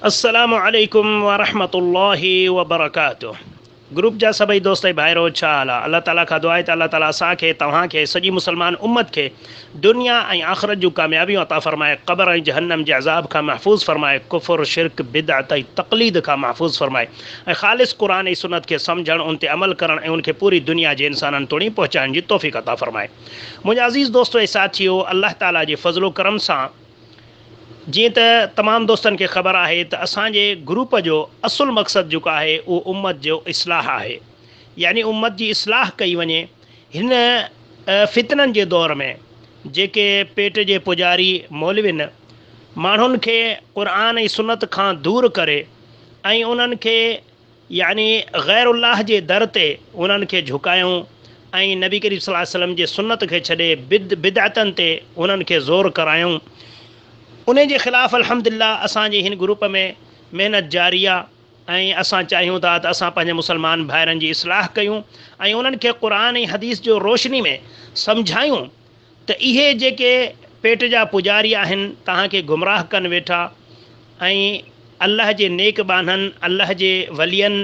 السلام عليڪم ورحمة الله وبرڪاته گروپ جا سڀئي دوست ۽ ڀائرو ڇا حال آ الله تعالي کان دعا آهي ته الله تعالي اسان کي توهان کي سڄي مسلمان امت کي دنيا ۽ آخرت جون ڪاميابيون عطا فرمائي قبر ۽ جهنم جي عذاب کان محفوظ فرمائي ڪفر شرڪ بدعت ۽ تقليد کان محفوظ فرمائي ۽ خالص قرآن ۽ سنت کي سمجهڻ ان تي عمل ڪرڻ ۽ ان کي پوري دنيا جي انسانن توڻي پهچائڻ جي توفيق عطا فرمائي منهنجا عزيز دوستو ۽ ساٿيو الله تعالي جي فضل و ڪرم سان جيئن ته تمام دوستن کي خبر آهي ته اسان جي گروپ جو اصل مقصد جيڪو آهي اهو امت جو اصلاح آهي يعني امت جي اصلاح ڪئي وڃي هن فتنن جي دور ۾ جيڪي پيٽ جي پوڄاري مولوين ماڻهن کي قرآن ۽ سنت کان دور ڪري ۽ انهن کي يعني غير الله جي در تي انهن کي جهڪايون ۽ نبي ڪريم صلي الله عليه وسلم جي سنت کي ڇڏي بد بدعتن تي انهن کي زور ڪرايون انهي جي خلاف الحمدلله اسان جي هن گروپ ۾ محنت جاري آ ۽ اسان چاهيون ٿا ته اسان پنهنجي مسلمان ڀائرن جي اصلاح ڪيون ۽ انهن کي قرآن ۽ حديث جو روشني ۾ سمجهايون ته اهي جيڪي پيٽ جا پوڄاري آهن توهان کي گمراهه ڪن ويٺا ۽ الله جي نيڪ ٻانهن، الله جي ولين،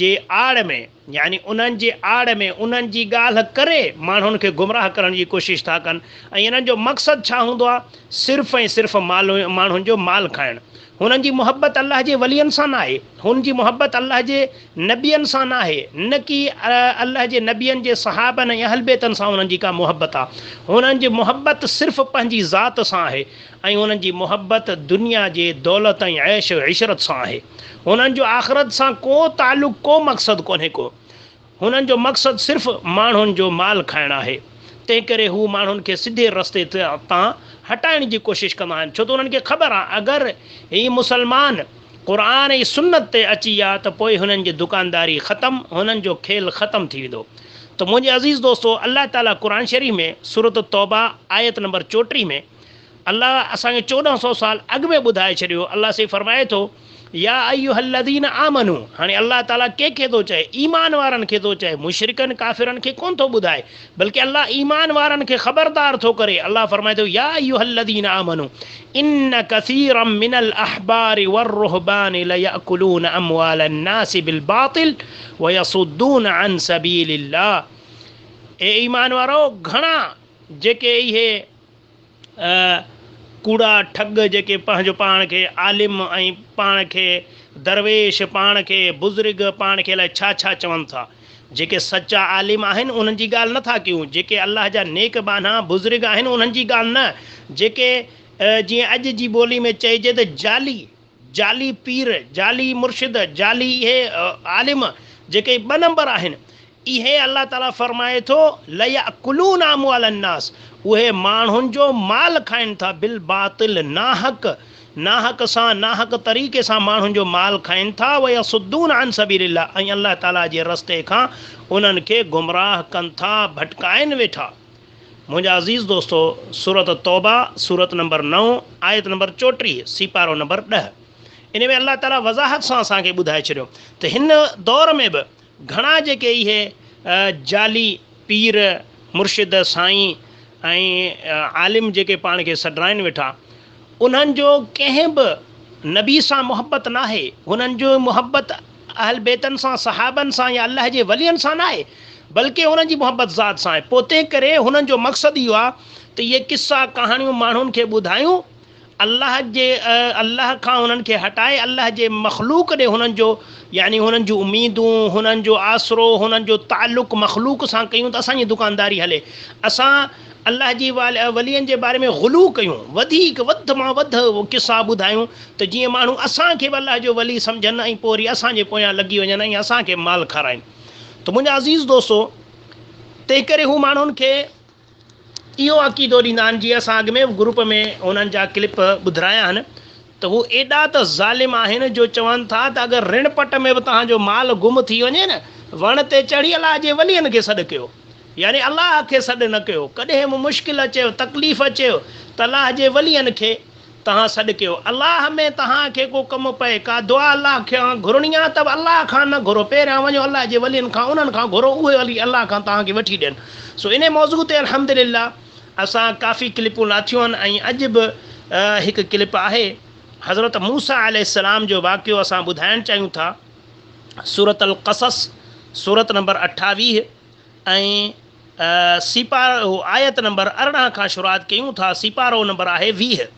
جي آڙ ۾ يعني انهن جي آڙ ۾ انهن جي ڳالهه ڪري ماڻهن کي گمراهه ڪرڻ جي ڪوشش ٿا ڪن ۽ انهن جو مقصد ڇا هوندو آهي صرف ۽ صرف ماڻهن جو مال کائڻ هنن جي محبت الله جي ولين سان ناهي، هن جي محبت الله جي نبين سان ناهي، نه ڪي الله جي نبين جي صحابن ۽ اهلبيتن سان هنن جي ڪا محبت آ. هنن جي محبت صرف پنهنجي ذات سان آهي ۽ هنن جي محبت دنيا جي دولت ۽ عيش عشرت سان آهي. هنن جو آخرت سان ڪو تعلق ڪو مقصد ڪونهي ڪو. هنن جو مقصد صرف ماڻهن جو مال کائڻ آهي، تنهنڪري هو ماڻهن کي سڌي رستي تان هٽائڻ جي ڪوشش ڪندا آهن، ڇو ته انهن کي خبر آهي اگر هي مسلمان قرآن ۽ سنت تي اچي ويا ته پوء هنن جي دڪانداري ختم، هنن جو کيل ختم ٿي ويندو. ته منهنجي عزيز دوستو! الله تعاليٰ قرآن شريف ۾ سورة التوبة آيت نمبر چوٽيهه ۾. الله اسان کي چوڏهن سؤ سال اڳ ۾ ٻڌائي ڇڏيو، الله سائين فرمائي ٿو، يا ايها الذين آمنوا هاڻي الله تعالي ڪنهن کي ٿو چئي؟ ايمان وارن کي ٿو چئي، مشرڪن ڪافرن کي ڪونه ٿو ٻڌائي، بلڪه الله ايمان وارن کي خبردار ٿو ڪري، الله فرمائي ٿو، يا ايها الذين آمنوا ان ڪثيرا من الاحبار والرهبان ليأڪلون اموال الناس بالباطل ويصدون عن سبيل الله اي ايمان وارؤ! گهڻا جيڪي اهي اهي ڪوڙا ٺڳ جيڪي پنهنجو پاڻ کي عالم ۽ پاڻ کي درويش، پاڻ کي بزرگ، پاڻ کي الائي ڇا ڇا چون ٿا. جيڪي سچا عالم آهن انهن جي ڳالهه نه ٿا ڪيون، جيڪي الله جا نيڪ ٻانها بزرگ آهن انهن جي ڳالهه نه، جيڪي جيئن اڄ جي ٻولي ۾ چئجي ته جعلي، جعلي پير، جعلي مرشد، جعلي اهي عالم جيڪي ٻه نمبر آهن، اهي الله تعاليٰ فرمائي ٿو، ليأڪلون اموال الناس، اهي ماڻهن جو مال کائن ٿا، بالباطل، ناحق، ناحق سان، ناحق طريقي سان ماڻهن جو مال کائن ٿا، ويصدون عن سبيل الله، ۽ الله تعاليٰ جي رستي کان انهن کي گمراهه ڪن ٿا، ڀٽڪائين ويٺا. منهنجا عزيز دوستو سورة التوبة سورت نمبر نو آيت نمبر چوٽيهه سيپارو نمبر ڏهه ان ۾ الله تعالي وضاحت سان اسان کي ٻڌائي ڇڏيو ته هن دور ۾ به گهڻا جيڪي اهي جعلي پير مرشد سائين ۽ عالم جيڪي پاڻ کي سڏرائن ويٺا انهن جو ڪنهن به نبي سان محبت ناهي، انهن جي محبت اهلبيتن سان، صحابن سان يا الله جي ولين سان ناهي، بلڪ انهن جي محبت ذات سان آهي، پوء تنهنڪري انهن جو مقصد اهو آهي ته اهي قصا، ڪهاڻيون ماڻهن کي ٻڌايون، الله جي الله کان انهن کي هٽائي الله جي مخلوق ڏي انهن جو يعني انهن جون اميدون، انهن جو آسرو، انهن جو تعلق مخلوق سان ڪيون ته اسان جي دڪانداري هلي، اسان. الله جي ولين جي باري ۾ غلو ڪيون، وڌيڪ وڌ مان وڌ قصا ٻڌايون ته جيئن ماڻهو اسان کي به الله جو ولي سمجهن ۽ پوء وري اسان جي پويان لڳي وڃن ۽ اسان کي مال کارائين ته منهنجا عزيز دوستو! تنهنڪري هو ماڻهن کي اهو عقيدو ڏيندا آهن، جيئن اسان اڳ ۾ به گروپ ۾ هنن جا ڪلپ ٻڌرايا آهن ته هو ايڏا ته ظالم آهن جو چون ٿا ته اگر رڻ پٽ ۾ به توهان جو مال گم ٿي وڃي نه وڻ تي چڙهي الله جي ولين کي سڏ ڪيو يعني الله کي سڏ نه ڪيو ڪڏهن به مشڪل اچيو تڪليف اچيو ته الله جي ولين کي توهان سڏ ڪيو الله ۾ توهان کي ڪو ڪم پئي ڪا دعا الله کان گهرڻي آهي ته به الله کان نه گهرو پهريان وڃو الله جي ولين کان انهن کان گهرو اهي ولي الله کان توهان کي وٺي ڏين سو انهي موضوع تي الحمدلله اسان ڪافي ڪلپون لاٿيون آهن ۽ اڄ به هڪ ڪلپ آهي حضرت موسيٰ عليه السلام جو واقعو اسان ٻڌائڻ چاهيون ٿا سورة القصص سورت نمبر اٺاويهه ۽ سيپارو آيت نمبر ارڙهن کان شروعات ڪيون ٿا سيپارو نمبر آهي ويهه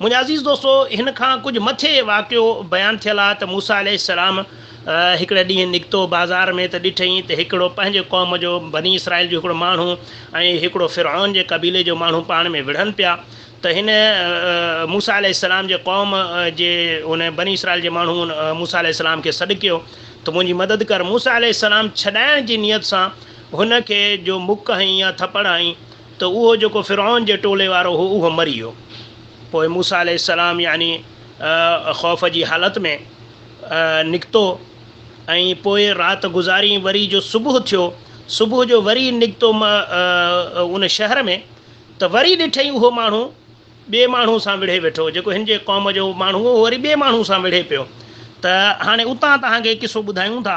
منهنجا عزيز دوستو! هن کان ڪجهه مٿي واقعو بيان ٿيل آهي ته موسيٰ عليه السلام هڪڙي ڏينهن نڪتو بازار ۾ ته ڏٺئين ته هڪڙو پنهنجي قوم جو بني اسرائيل جو هڪڙو ماڻهو ۽ هڪڙو فرعون جي قبيلي جو ماڻهو پاڻ ۾ وڙهن پيا ته هن موسيٰ عليه السلام جي قوم جي ان بني اسرائيل جي ماڻهو موسيٰ عليه السلام کي سڏڪيو ته منهنجي مدد ڪر موسيٰ عليه السلام ڇڏائڻ جي نيت سان هن کي جو مڪ هنئين يا ٿپڙ هنئين ته اهو جيڪو فرعون جي ٽولي وارو هو اهو مري ويو. پوء موسيٰ عليه السلام يعني خوف جي حالت ۾ نڪتو ۽ پوء رات گذارين وري جو صبح ٿيو صبح جو وري نڪتو ان شهر ۾ ته وري ڏٺئي اهو ماڻهو ٻئي ماڻهو سان وڙهي ويٺو جيڪو هن جي قوم جو ماڻهو هو اهو وري ٻئي ماڻهو سان وڙهي پيو ته هاڻي اتان توهان کي قصو ٻڌايون ٿا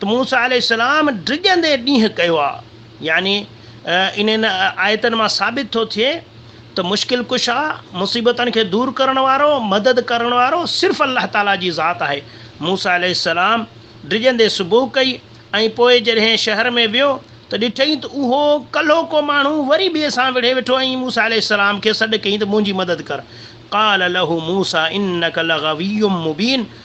ته موسيٰ عليه السلام ڊڄندي ڏينهن ڪيو آ، يعني انهن آيتن مان ثابت ٿو ٿئي ته مشڪل ڪشا، مصيبتن کي دور ڪرڻ وارو، مدد ڪرڻ وارو صرف الله تعاليٰ جي ذات آهي. موسيٰ عليه السلام ڊڄندي صبح ڪئي ۽ پوء جڏهن شهر ۾ ويو ته ڏٺئي ته اهو ڪلهوڪو ماڻهو وري ٻئي سان وڙهي ويٺو ۽ موسيٰ عليه السلام کي سڏ ڪيائين ته منهنجي مدد ڪر. قال له موسيٰ انڪ لغوي مبين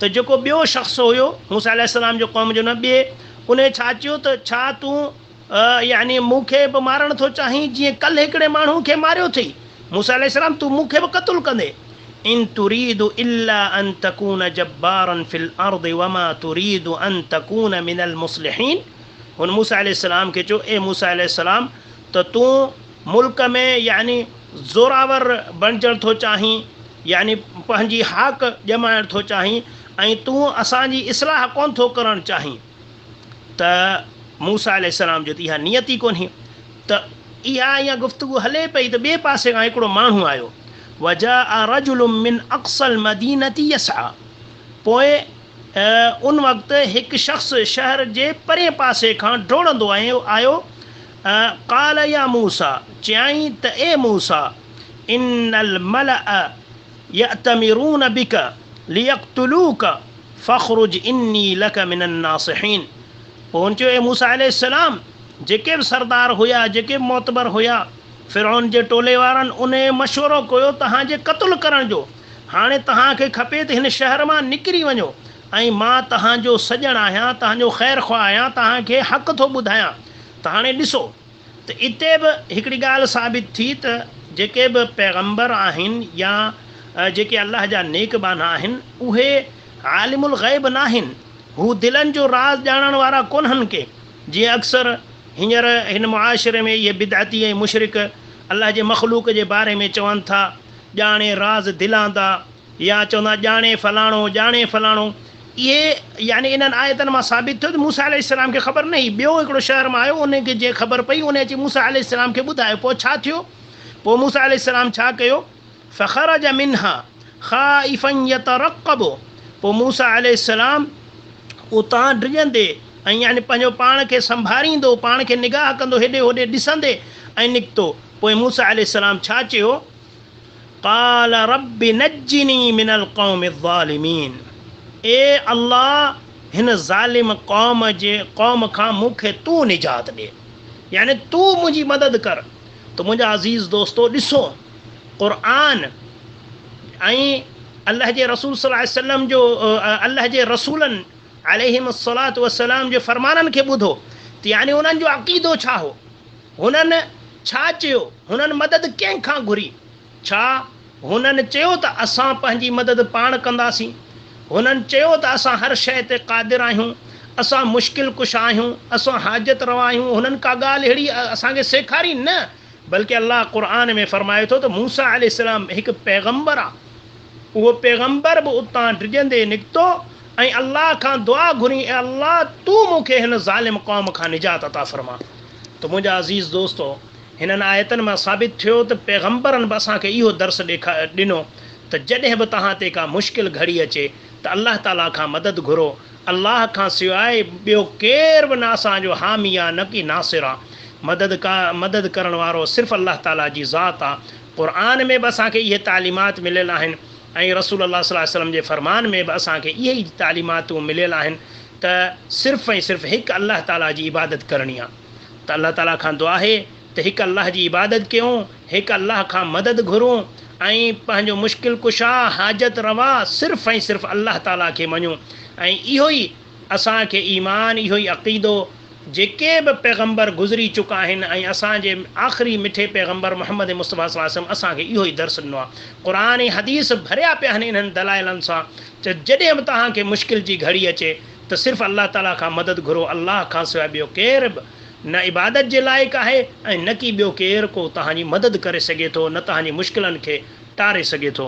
ته جيڪو ٻيو شخص هيو، موسيٰ عليه السلام جو قوم جو نبيء، انهيء ڇا چيو ته، ڇا تون، يعني مون کي، به مارڻ ٿو چاهين، جيئن ڪلهه هڪڙي ماڻهو کي ماريو ٿئي؟ موسيٰ عليه السلام، تون مون کي به قتل ڪندين؟ ان تريد الا ان تڪون جبارا في الارض وما تريد ان تڪون من المصلحين هن موسيٰ عليه السلام کي چيو، اي موسيٰ عليه السلام! ته تون ملڪ ۾ يعني زورآور بڻجڻ ٿو چاهين، يعني پنهنجي هاڪ ڄمائڻ ٿو چاهين ۽ تون اسان جي اصلاح ڪونه ٿو ڪرڻ چاهين ته موسيٰ عليه السلام جي ته اها نيت ئي ڪونهي ته اها ايئن گفتگو هلي پئي ته ٻئي پاسي کان هڪڙو ماڻهو آيو وجاء رجل من اقصي المدينة يسعي پوء ان وقت هڪ شخص شهر جي پرئين پاسي کان ڊوڙندو آيو ۽ قال يا موسيٰ چيائين ته اي موسيٰ ان الملأ يأتمرون بك ليقتلوك فاخرج اني لك من الناصحين پوء هن چيو اي موسيٰ عليه السلام جيڪي به سردار هيا جيڪي به معتبر هيا فرعون جي ٽولي وارن انهي مشورو ڪيو توهان جي قتل ڪرڻ جو هاڻي توهان کي کپي ته هن شهر مان نڪري وڃو ۽ مان توهان جو سڄڻ آهيان، توهان جو خير خواهه آهيان، توهان کي حق ٿو ٻڌايان ته هاڻي ڏسو ته اتي به هڪڙي ڳالهه ثابت ٿي ته جيڪي به پيغمبر آهن يا جيڪي الله جا نيڪ ٻانها آهن اهي عالم الغيب ناهن، هو دلن جو راز ڄاڻڻ وارا ڪونهن ڪي جيئن اڪثر هينئر هن معاشري ۾ اهي بدعتي ۽ مشرڪ الله جي مخلوق جي باري ۾ چون ٿا، ڄاڻي راز دلان دا. يا چوندا آهن ڄاڻي فلاڻو، ڄاڻي فلاڻو. اهي يعني انهن آيتن مان ثابت ٿيو ته موسيٰ عليه السلام کي خبر نه هئي. ٻيو هڪڙو شهر مان آيو، ان کي جنهن خبر پئي، ان اچي موسيٰ عليه السلام کي ٻڌايو. پوء ڇا ٿيو؟ پوء موسيٰ عليه السلام ڇا ڪيو؟ فخرج منها خائفا يترقب پوء موسيٰ عليه السلام اتان ڊڄندي ۽ يعني پنهنجو پاڻ کي سنڀاريندو، پاڻ کي نگاهه ڪندو، هيڏي هوڏي ڏسندي ۽ نڪتو. پوء موسيٰ عليه السلام ڇا چيو؟ قال رب نجني من القوم الظالمين اي الله هن ظالم قوم جي قوم کان مون کي تون نجات ڏي يعني تون منهنجي مدد ڪر ته منهنجا عزيز دوستو ڏسو قرآن ۽ الله جي رسول صلي الله عليه وسلم جو الله جي رسولن عليهم الصلاة والسلام جي فرمانن کي ٻڌو ته يعني انهن جو عقيدو ڇا هو هنن ڇا چيو؟ هنن مدد ڪنهن کان گهري؟ ڇا هنن چيو ته اسان پنهنجي مدد پاڻ ڪنداسين؟ هنن چيو ته اسان هر شيء تي قادر آهيون، اسان مشڪل ڪشا آهيون، اسان حاجت روا آهيون، هنن ڪا ڳالهه اهڙي اسان کي سيکاري نه، بلڪ الله قرآن ۾ فرمائي ٿو ته موسيٰ عليه السلام هڪ پيغمبر آ، اهو پيغمبر به اتان ڊڄندي نڪتو ۽ الله کان دعا گهرين اي الله! تون مون کي هن ظالم قوم کان نجات عطا فرما. ته منهنجا عزيز دوستو! هنن آيتن مان ثابت ٿيو ته پيغمبرن به اسان کي اهو درس ڏنو ته جڏهن به توهان تي ڪا مشڪل گهڙي اچي ته الله تعاليٰ کان مدد گهرو، الله کان سواء ٻيو ڪير به نه اسان جو حامي آ نه ڪي ناصر آ. مدد ڪا مدد ڪرڻ وارو صرف الله تعاليٰ جي ذات آ. قرآن ۾ به اسان کي اهي تعليمات مليل آهن ۽ رسول الله صلي الله عليه وسلم جي فرمان ۾ به اسان کي اهي ئي تعليماتون مليل آهن ته صرف ۽ صرف هڪ الله تعاليٰ جي عبادت ڪرڻي آهي ته الله تعاليٰ کان دعا آهي ته هڪ الله جي عبادت ڪيون، هڪ الله کان مدد گهرون ۽ پنهنجو مشڪل ڪشا، حاجت روا صرف ۽ صرف الله تعاليٰ کي مڃون ۽ اهو ئي اسان کي ايمان اهو ئي عقيدو جيڪي به پيغمبر گذري چڪا آهن ۽ اسان جي آخري مٺي پيغمبر محمد مصطفيٰ صلي الله عليه وسلم اسان کي اهو ئي درس ڏنو آهي قرآن ۽ حديث ڀريا پيا آهن انهن دلائلن سان چئو، جڏهن به توهان کي مشڪل جي گهڙي اچي ته صرف الله تعاليٰ کان مدد گهرو، الله کانسواء ٻيو ڪير به نه عبادت جي لائق آهي ۽ نه ڪي ٻيو ڪير ڪو توهان جي مدد ڪري سگهي ٿو نه توهان جي مشڪلن کي ٽاري سگهي ٿو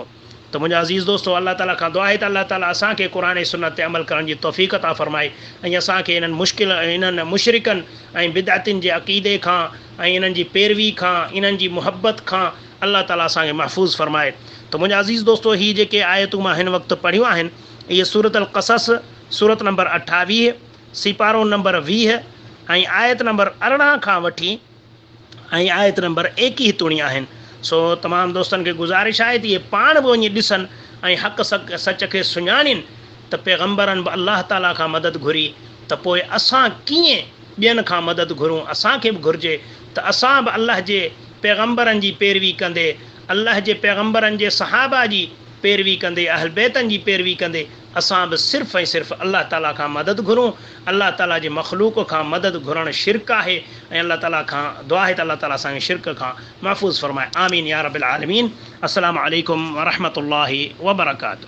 ته منهنجا عزيز دوستو الله تعاليٰ کان دعا آهي ته الله تعاليٰ اسان کي قرآن ۽ سنت تي عمل ڪرڻ جي توفيق عطا فرمائي ۽ اسان کي انهن مشڪل انهن مشرڪن ۽ بدعتين جي عقيدي کان ۽ انهن جي پيروي کان انهن جي محبت کان الله تعالي اسان کي محفوظ فرمائي ته منهنجا عزيز دوستو هي جيڪي آيتون مان هن وقت پڙهيون آهن اهي سورة القصص سورت نمبر اٺاويهه سيپارو نمبر ويهه ۽ آيت نمبر ارڙهن کان وٺي ۽ آيت نمبر ايڪيهه توڻي آهن سو تمام دوستن کي گذارش آهي ته اهي پاڻ به وڃي ڏسن ۽ حق سچ کي سڃاڻين ته پيغمبرن به الله تعالي کان مدد گهري ته پوء اسان ڪيئن ٻين کان مدد گهرون اسان کي به گهرجي ته اسان به الله جي پيغمبرن جي پيروي ڪندي، الله جي پيغمبرن جي صحابه جي پيروي ڪندي، اهل بيتن جي پيروي ڪندي اسان به صرف ۽ صرف الله تعالي کان مدد گهرون، الله تعالي جي مخلوق کان مدد گهرڻ شرڪ آهي ۽ الله تعالي کان دعا آهي ته الله تعالي اسان کي شرڪ کان محفوظ فرمائي آمين يارب العالمين السلام عليڪم ورحمة الله وبرڪاته.